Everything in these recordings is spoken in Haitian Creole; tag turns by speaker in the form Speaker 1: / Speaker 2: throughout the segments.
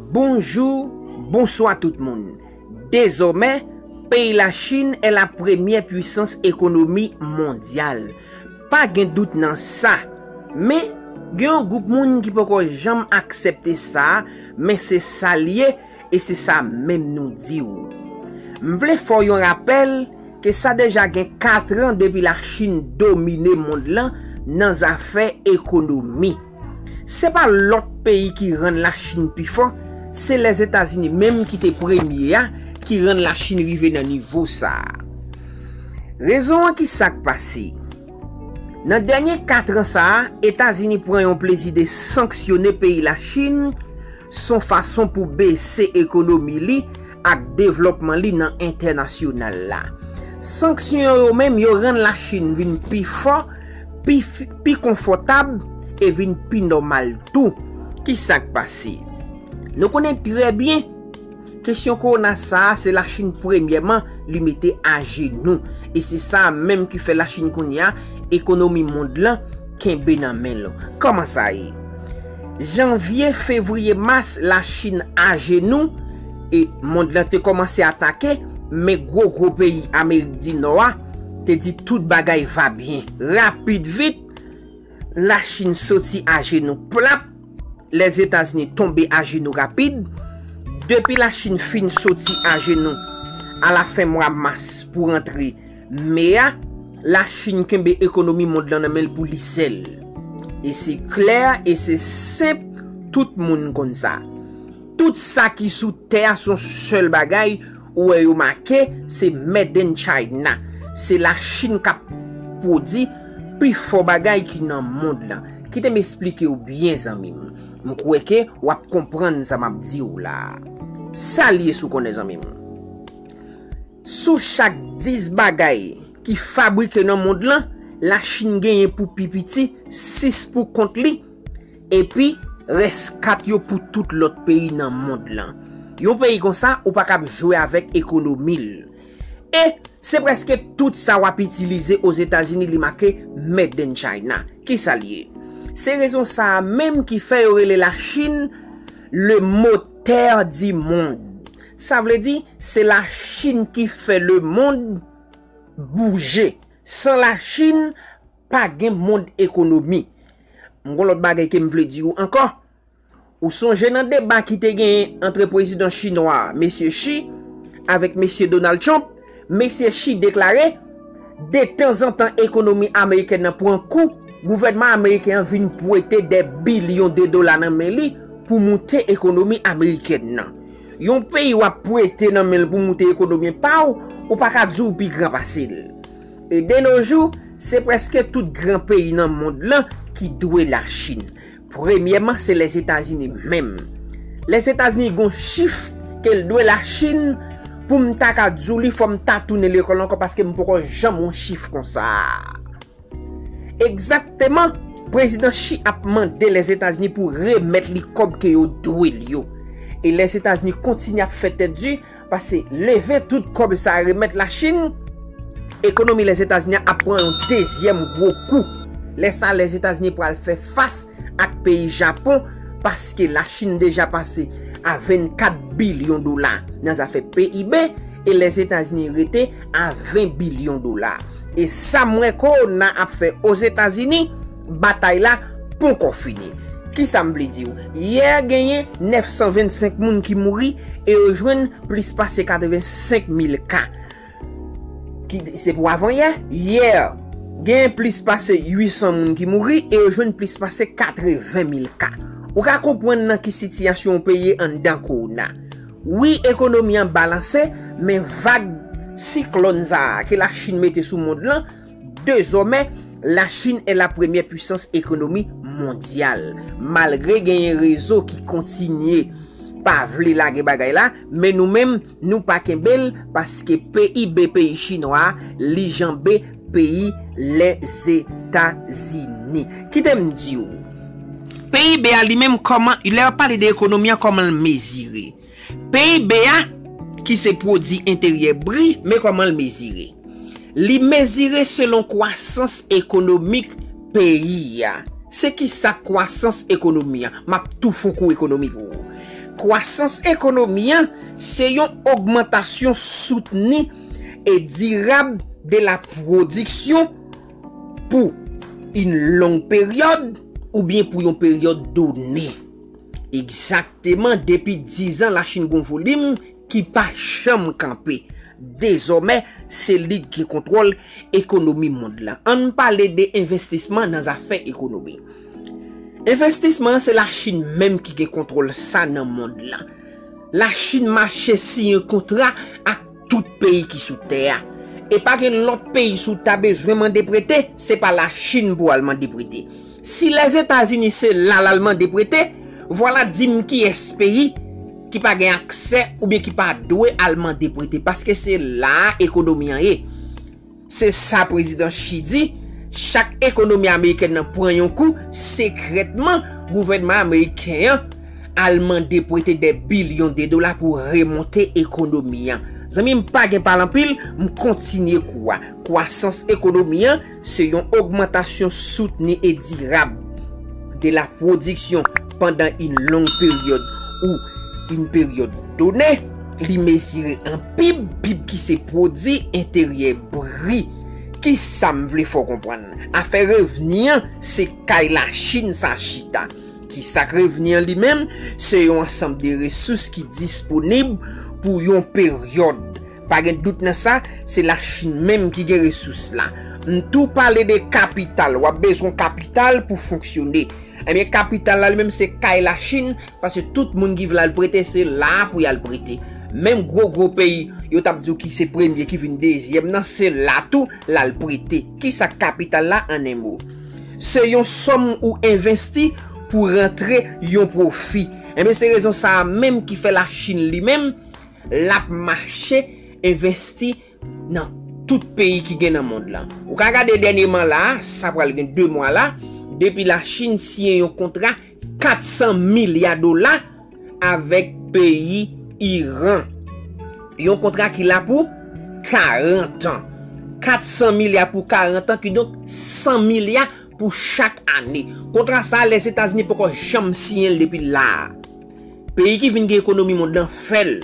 Speaker 1: Bonjou, bonswa tout moun. Dezòmè, peyi la Chin è la premyè pwisans ekonomi mondyal. Pa gen dout nan sa. Men, gen yon gwoup moun ki poko janm aksèpte sa, men se sa l ye, E se sa menm nou di ou. M vle fè w yon rapèl ke sa deja gen katran depi la Chin domine mond lan nan zafè ekonomi. Se pa lòt peyi ki rann la Chin pi fò, se Lèzetazini menm ki te premye a ki rann la Chin rive nan nivo sa a. Rezon an ki sa k pase? Nan dènye katran sa a, Etazini pran yon plezi de sanksyone peyi Lachin, son fason pou bese ekonomi li ak devlòpman li nan entènasyonal la. Sanksyon yo menm yo rann Lachin vin pi fò, pi konfòtab e vin pi nòmal tou. Ki sa k pase? Nou konnen trè byen Kesyon kowona sa a se Lachin premyèman li mete ajenou e se sa a menm ki fè Lachin kounye a ekonomi mond lan kenbe nan men l. Kòman sa ye? Janvye, fevriye, mas Lachin ajenou e mond lan te kòmanse atake men gwo gwo peyi Amerik di Nò a te di tout bagay va byen. Rapid vit, Lachin soti ajenou plap. Lèzetazini tonbe ajenou rapid depi Lachin fin soti ajenou alafen mwa mas pou rantre me a, Lachin kenbe ekonomi mond lan nan men l pou li sèl. E se klè e se senp tout moun konn sa. Tout sa ki sou tè a son sèl bagay Ou wè yo make se made in china se la chine kap pwodi pi fò bagay ki nan mond lan kite m esplikew byen zanmi m m kwè ke wap konprann sa map diw la sal ye sou konnen zanmi m sou chak 10 bagay ki fabrike nan mond lan la chine genyen pou pi piti 6 pou kont li Epi, rès kat yo pou tout lòt peyi nan mond lan. Yon peyi konsa, ou pa kab jwe avèk ekonomi l. E, se prèske tout sa w ap itilize Ozetazini li make Made in China. Ki sa l ye? Se rezon sa a menm ki fè yo rele Lachin le motè di mond. Sa vle di, se Lachin ki fè le mond bouje. San Lachin, Pa gen mond ekonomi. M gon lòt bagay ke m vle di ou ankò. Ou sonje nan deba ki te genyen antre pwezidan chinwa a, Mesye Xi, avèk Mesye Donald Trump, Mesye Xi deklare, Detanzantan ekonomi amerikèn nan pran kou, gouvènman ameriken an vin pwete dè bilyon de dola nan men li pou moute ekonomi amerikèn nan. Yon peyi w ap pwete nan men l pou moute ekonomi pa w, ou pa ka di w pi gran pase l. E de no jou, se preske tout gran peyi nan mond lan ki dwe la Chin. Premyèman se Lèzetazini menm. Lèzetazini gon chif ke l dwe la Chin pou m ta ka di w li fò m ta tounen lekòl ankò paske m poko janm wè yon chif konsa. Egzakteman, Prezidan Xi ap mande Lèzetazini pou remèt li kòb ke yo dwe l yo. E Lèzetazini kontinye ap fè tèt di, Pase leve tout kob sa remet la chine, ekonomi les etazini ap pran yon dezyem gwo kou. Le sa les etazini pral fe fas ak peyi japon paske la chine deja pase a 24 bilyon dola nan zafe PIB e les etazini rete a 20 bilyon dola. E sam we corona ap fe ozetazini. Batay la ponkò fini. Kisa m vle di w? Yè genyen 925 moun ki mouri e yo jwenn plis pase 85 mil ka. Ki se pou avan yè? Yè genyen plis pase 800 moun ki mouri e yo jwenn plis pase 80 mil ka. Ou ka konprann nan ki sitiyasyon yon peyi ye anndan kowona. Wi ekonomi an balanse men vag siklòn sa a ke Lachin mete sou mond lan, Dezòmè, Lachin e la premyè pwisans ekonomi mondyal. Malgre genyen rezo ki kontinye pa vle lage bagay la, men nou menm nou pa kenbe l paske PIB peyi chinwa a li janbe peyi Lèzetazini. Kite m di w, PIB a li menm kòman, lè y ap pale de ekonomi an kòman l mezire. PIB a, ki se pwodi enteryè bri, men kòman l mezire. Li mezire selon kwasans ekonomik peyi a. Se ki sa kwasans ekonomi a? M ap tou fon kou ekonomi pou ou. Kwasans ekonomi a, se yon ogmantasyon soutni e dirab de la pwodiksyon pou yn long peryòd oubyen pou yon peryòd done. Egzakteman depi dizan Lachin gon volim ki pa janm kanpe. Dezòmè se li k gen kontwòl ekonomi mond lan. An n pale de envestisman nan zafè ekonomi. Envestisman an se Lachin menm ki gen kontwòl sa nan mond lan. Lachin mache siyen kontra ak. Tout peyi ki sou tè a. E pa gen lòt peyi si w ta bezwen mande prete, se pa Lachin pou w al mande prete. Si Lèzetazini se la l al mande prete, vwala di m kiyès peyi ki pa gen aksè oubyen ki pa dwe al mande prete paske se la a ekonomi an ye. Se sa Prezidan Xi di, chak ekonomi amerikèn nan pran yon kou, sekrètman gouvènman ameriken an al mande prete dè bilyon de dola pou remonte ekonomi an. Zanmi m pa gen pale anpil, m kontinye kou a. Kwasans ekonomi an se yon ogmantasyon soutni e dirab de la pwodiksyon, pandan yn long peryòd ou yn peryòd done, li mezire an pib, pib ki se pwodi enteryè bri. Kisa m vle fè w konprann? Afè revni an, se kay Lachin sa chita. Kisa k revni an li menm? Se yon ansanm de resous ki disponib pou yon peryòd. Pa gen dout nan sa, se la Chine menm ki gen resous la. M tou pale de kapital, wap bezwen kapital pou fonksyone. Ebyen kapital la li menm se kay la Chine, paske tout moun ki vle al prete se la pou yal prete. Menm gwo gwo peyi yo tap di w ki se premye ki vin dezyèm nan se la tou lal prete. Kisa k kapital la an 1 mo? Se yon sòm ou envesti pou rantre yon pwofi. Ebyen se rezon sa menm ki fè la Chine li menm, Lap mache envesti nan tout peyi ki gen nan mond lan. Ou ka gade dènyeman la a, sa pral gen 2 mwa la, depi la Chin siyen yon kontra 400 milya dola avèk peyi Iran. Yon kontra ki la pou 40 an. 400 milya pou 40 an, kidonk 100 milya pou chak ane. Kontra sa a Lèzetazini poko janm siyen l depi la a. Peyi ki vin gen ekonomi mond lan fè l.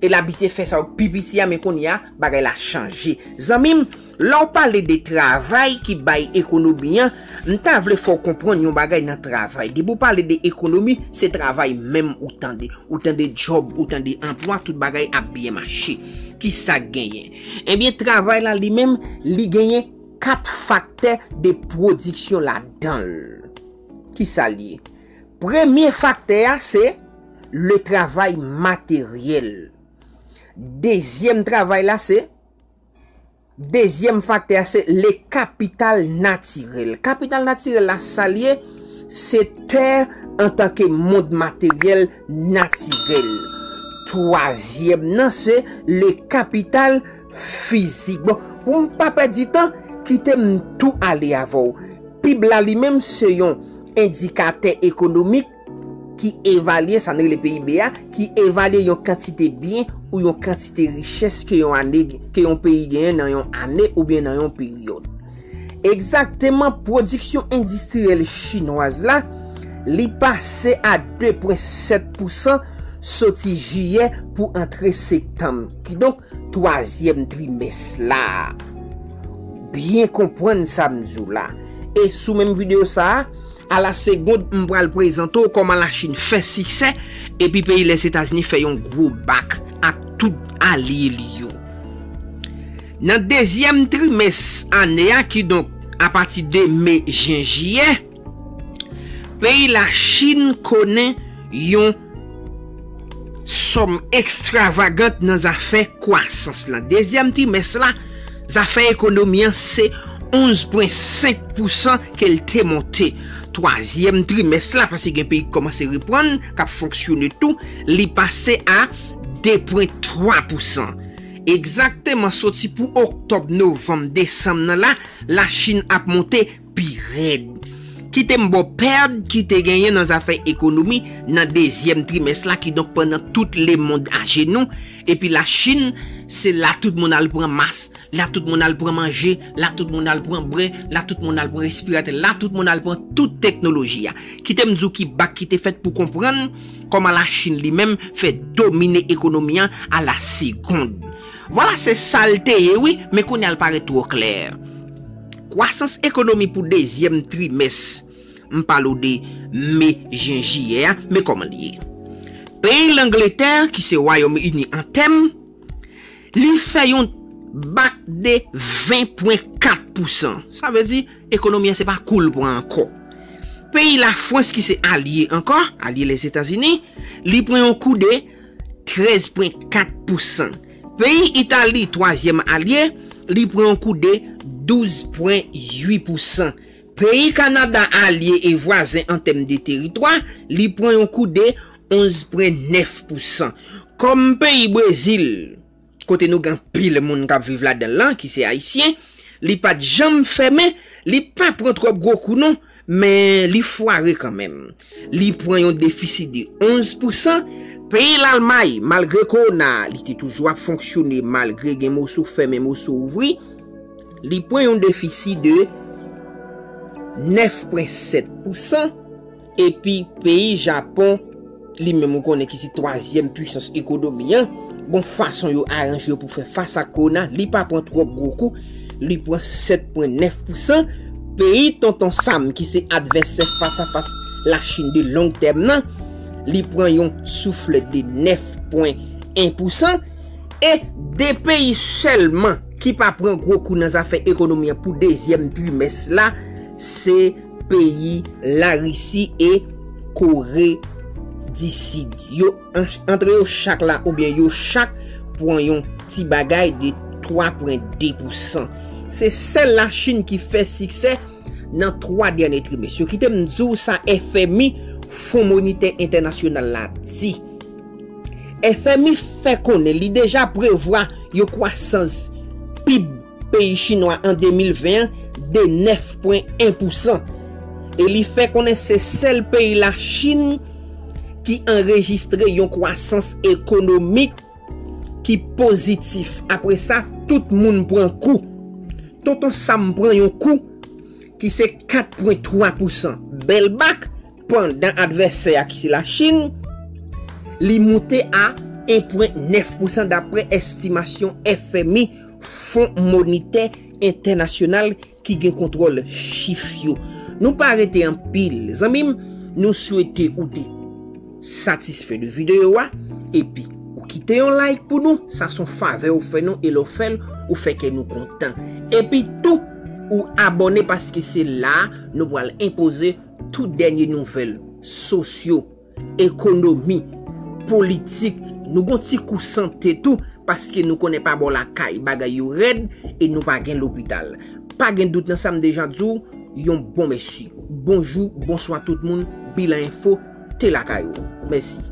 Speaker 1: E l abitye fè sa yo pi piti a men kounye a bagay la chanje. Zanmi m, lè w pale de travay ki bay ekonomi an, m ta vle fè w konprann yon bagay nan travay. Depi w pale de ekonomi, se travay menm ou tande. Ou tande djòb, ou tande anplwa, tout bagay ap byen mache. Ki sa k genyen? Ebyen travay la li menm li genyen 4 faktè de pwodiksyon ladan l. Ki sa l ye? Premye faktè a se le travay materyèl. Dezyèm travay la se, dezyèm faktè a se le kapital natirèl. Kapital natirèl la sa l ye? Se tè antanke mond materyèl natirèl. Twazyèm nan se le kapital. Fizik. Bon, pou m pa pèdi tan, kite m tou ale avè w. Pib la li menm se yon endikatè ekonomik ki evalye, sa nou rele PIB a, ki evalye yon kantite byen ou yon kantite richès ke yon ane, ke yon peyi genyen nan yon ane oubyen nan yon peryòd. Egzakteman, pwodiksyon endistriyèl chinwaz la, li pase a 2 pwen 7 pousan soti jiyè pou antre sektanm. Kidonk, twazyèm trimès la a. Byen konpwann sa m di w la. E sou menm videyo sa a, a la segond m pral prezante w kòman Lachin fè siksè epi peyi Lèzetazini fè yon gwo bak ak tout alye li yo. Nan dezyèm trimès ane a, kidonk apati de me, jen, jiyè, Peyi la Chine konnen yon sòm extravagant nan zafè kwasans la. Dezyèm trimès la, zafè ekonomi an se 11 pwen 5 pousan ke l te monte. Twazyèm trimès la, pase gen peyi ki kòmanse reprann, k ap fonksyone tou, li pase a 2 pwen 3 pousan. Egzakteman soti pou oktòb, novanm, desanm nan la, la Chine ap monte. pi rèd. Kite m ba w pèd ki te genyen nan zafè ekonomi nan dezyèm trimès la, kidonk pandan tout lemond ajenou, epi Lachin, se la tout moun al pran mas, la tout moun al pran manje, la tout moun al pran bwè, la tout moun al pran respiratè, la tout moun al pran tout teknoloji a. Kite m di w ki bak ki te fèt pou konprann kòman Lachin li menm fè domine ekonomi an a la segond. Vwala se sa l te ye wi, men kounye a l parèt twò klè. Kwasans ekonomi pou dezyèm trimès, m pale w de me, jen, jiyè a, men kòman li ye. Peyi Langletè, ki se Wayòm Ini an tèm, li fè yon bak de 20 pwen 4 pousan. Sa vle di, ekonomi an se pa kou l pran ankò. Peyi Lafwans ki se alye ankò, alye Lèzetazini, li pran yon kou de 13 pwen 4 pousan. Peyi Itali, twazyèm alye, li pran yon koude 12 pwen 8 pousan. Peyi Kanada, alye e vwazen an tèm de teritwa, li pran yon koude 11 pwen 9 pousan. Kòm peyi Brezil, kote nou gen anpil moun k ap viv ladan l lan ki se Ayisyen, li pa t janm fèmen, li pa pran twòp gwo kou non. Men li fware kanmenm. Li pran yon defisi de 11 pousan. Peyi Lalmay, malgre kowona a, li te toujou ap fonksyone malgre gen moso fèmen moso ouvri. Li pran yon defisi de 9 pwen 7 pousan. Epi peyi Japon. Li menm ou konnen ki se twazyèm pwisans ekonomi an, bon fason yo aranje yo pou fè fas ak kowona, li pa pran twòp gwo kou, li pran 7 pwen 9 pousan, peyi tonton Sam ki se advèsè fas a fas Lachin de long tèm nan, li pran yon souflèt de 9 pwen 1 pousan, e 2 peyi sèlman ki pa pran gwo kou nan zafè ekonomi an pou dezyèm trimès la, se. Peyi Larisi e Kore di Sid yo, antre yo chak la oubyen yo chak pwan yon ti bagay de 3 pwen 2 pou san. Se sèl la Chin ki fè siksè nan 3 dènye trimès yo. Kite m di w sa FMI, Fon Monitè Entènasyonal la di. FMI fè konnen li deja prevwa yon kwasans pib peyi chinwa an 2020 an de 9,1 pousan e li fè konnen se sèl peyi Lachin ki anrejistre yon kwasans ekonomik ki pozitif. Apre sa, tout moun pran kou. Tonton Sam pran yon kou ki se 4,3 pousan. Bèl bak pandan advèsè a ki se Lachin li moute a 1,9 pousan dapre estimasyon FMI. Fon Monitè Entènasyonal ki gen kontwòl chif yo. Nou pa rete anpil zanmi m, nou swete ou te satisfè de videyo a epi ou kite yon like pou nou, sa son favè ou fè nou e lè w fè l ou fè kè nou kontan. Epi tou ou abòne paske se la nou pral enpoze tout dènye nouvèl sosyo. ekonomi, politik, nou gon ti kou sante tou paske nou konnen pa bò lakay bagay yo rèd e nou pa gen lopital. Pa gen dout nan sa m deja di w yon bon mèsi. Bonjou, bonswa tout moun, Bilan Info te lakay ou. Mèsi.